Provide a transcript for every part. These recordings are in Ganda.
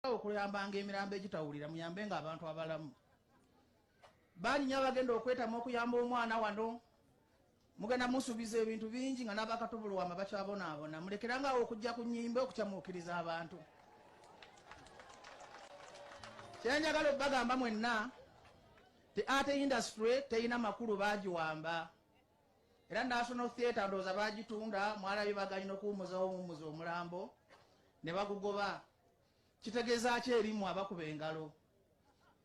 awo kuyambanga emirambo egitawulira muyambe nga abantu abalamu banyinya abagenda okwetamu okuyamba omwana wano mugenda musubiza ebintu bingi nga nabakatubulwama bakyabonaabona mulekeranga awo okujja ku nyimba okukyamuukiriza abantu kyenjagala okubagamba mwenna te ate industry teyina makulu bagiwamba era National Theatre ndowooza baagitunda mwalabye baganyi n'okuwummuzawo omuwummuza omulambo ne bagugoba kitegeeza ki erimu abakuba engalo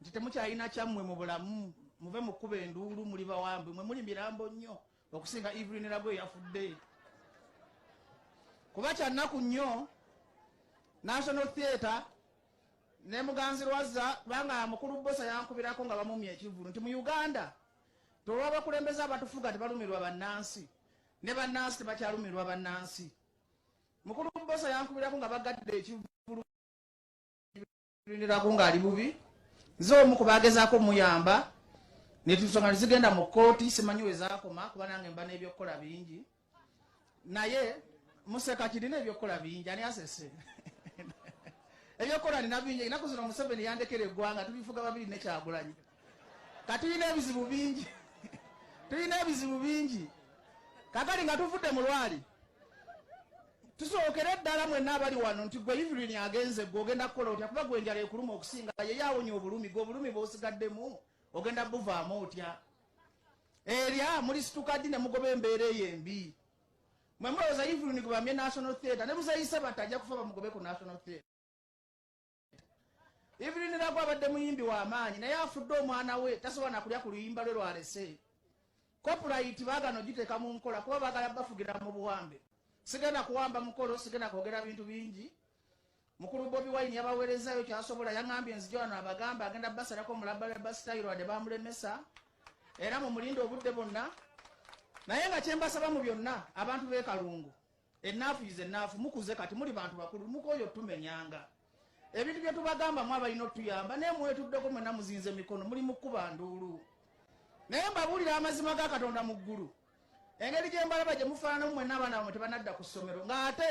nti temukyalina kyammwe mu bulamu muve mu kkuba enduulu muli bawambi mwe muli mirambo nnyo okusinga Evelyn Lago eyafudde kuba kyannaku nnyo National Theatre ne muganzi lwazza kubanga mukulu bbosa yankubirako nga bamumya ekivulu nti mu Uganda Tolwabakulembeze abatufuga tebalumirwa bannansi ne bannansi tebakyalumirwa bannansi. Mukulu Bbosa yankubirako nga bagadde ekivulu ndirako ng'ali bubi nze omu ku baagezaako omuyamba netunsonga nezigenda mu kkooti simanyi we zaakoma kuba nange mba n'ebyokukola bingi naye museka kirina ebyokukola bingi ani asese ebyokukola nina bingi enaku zino museveni yandekera eggwanga tubifuga babiri nekyagulanyi katulina ebizibu bingi tulina ebizibu bingi kakali nga tuvudde mu lwali tusookere eddala mwenna abali wano nti gwe ivilini agenze gwe ogenda kukola otya kuba gwe enjala ekuluma okusinga yeyo awonya obulumi gwe obulumi bwosigaddemu ogenda buvaamu otya erya ah, mulisituka ddi ne mugoba embeera eyo embi mwe mulowooza evening bamye national theatre ne muzeyise bati ajja kufa bamugobe ku national theatre evening nagwe abadde muyimbi w'amaanyi naye afudde omwana we tasobola nakulya ku luyimba lwe lwalese kopulayiti bagana ogiteeka mu nkola kuba bagala bafugira mu buwambe sigenda kuwamba mukolo sigenda kwogera bintu bingi Mukulu Bobi Wine yabaweerezaayo kyasobola yang'ambye nzije wano abagambe agenda basalako mu labalaba sitayiro wadde baamulemesa era mu mulinde obudde bonna naye nga kye mbasaba mu byonna abantu b'e Kalungu ennaafu yize ennaafu mukuze kati muli bantu bakulu mukooyo tumenyanga ebintu bye tubagamba mu abalina otuyamba naye mwetuddeko mwena muzinze mikono muli mu kuba nduulu naye mbabuulira amazima ga katonda mu ggulu engeri gyembalaba gyemufaananamu mwena abaana bamwe tebanadda ku ssomero ng'ate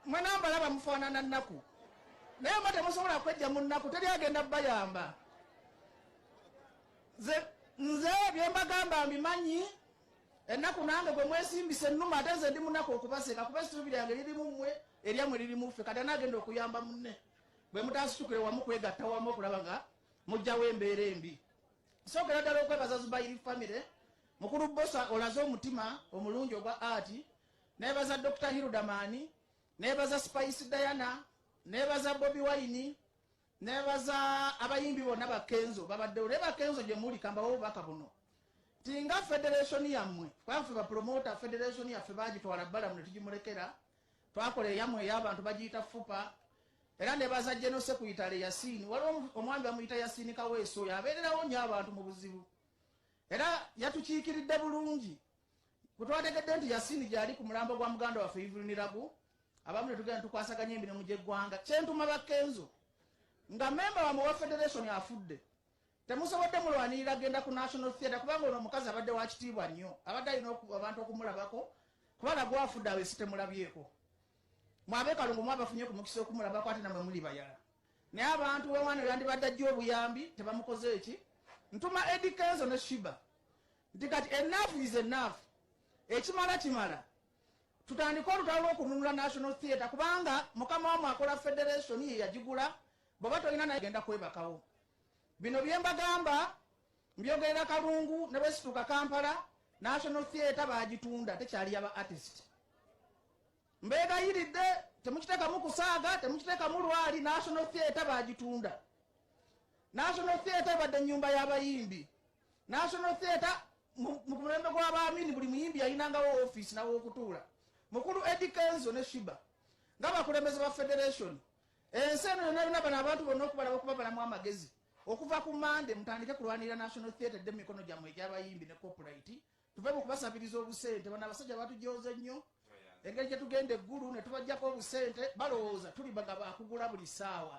mwena mbalaba mufaanana nnaku naye mba temusobola kwejja mu nnaku teri agenda bayamba nze byembagamba mbimanyi ennaku nange gwe mwesimbisa ennuma ate nze ndi munaku okubaseka kuba essuubi lyange lirimu mmwe eryamwe liri muffe kati anaagenda okuyamba munne bwe mutasitukire wamu kwegatta wamu okulaba nga mujjawo embeera embi Nsokera ddala okwebaza Zubairi family mukulu Bbosa olaze omutima omulungi ogwa ati nebaza Dr. Hirudamani nebaza Spice Diana nebaza Bobi Wine nebaza abayimbi bonna ba Kenzo babaddewo naye ba Kenzo gye muli kambawo obubaka buno tinga federation yammwe kwafe bapromota federation yaffe bagitwala bbalamu ne tugimulekera Twakola eyamwe eyo abantu bagiyita fupa era nebaza General Sekuyitale Yasini. Waliwo omwami bamuyita Yasini Kaweesi oyo abeererawo nnyo abantu mu buzibu era yatukiikiridde bulungi. Bwe twategedde nti Yasini gyali ku mulambo gwa muganda waffe Evelyn Lagu, abamu ne tugenda tukwasaganya emirimu gy'eggwanga. Kyentuma Bakenzo nga memba wamwe wa federation afudde Temusobodde mulwanirira genda ku National Theatre kubanga ono omukazi abadde wa kitiibwa nnyo. Abadde alina abantu okumulabako kuba nagwa afudde awo esitemulabyeko. Mwabe kalungu mwabafunye ku mukisa okumulabako ate namwe muli bayala. Naye abantu wewano yandibadde ajja obuyambi tebamukoze eki. Ntuma Eddie Kenzo ne Shiba nti kati enough is enough. Ekimala kimala. Tutandika olutalo lw'okununula National Theatre kubanga mukama wamu akola federation ye yagigula Bwoba tolina naye genda kwebakawo. Bino byembagamba mbyogerera Kalungu ne bwesituuka Kampala National Theatre baagitunda tekyali yaba artist. Mbeegayiridde temukiteekamu kusaaga, temukiteekamu lwali. National Theatre baagitunda. National Theatre ebadde ennyumba y'abayimbi. National Theatre mu mulembe gw'abaamini buli muyimbi yalinangawo ofiisi nawe okutuula. Mukulu Eddie Kenzo ne Shiba nga bakulembeze ba federation Ensi eno yonna yonna bano abantu bonna okubalaba okubabalamu amagezi okuva ku mande mutandike kulwanirira national theatre dde mumikono gyammwe egyabayimbi ne copulite tuve mu kubasabiriza obusente bano abasajja batujooze nnyo engeri gye tugenda eggulu ne tubajjako obusente balowooza tuli bagaba akugula buli ssaawa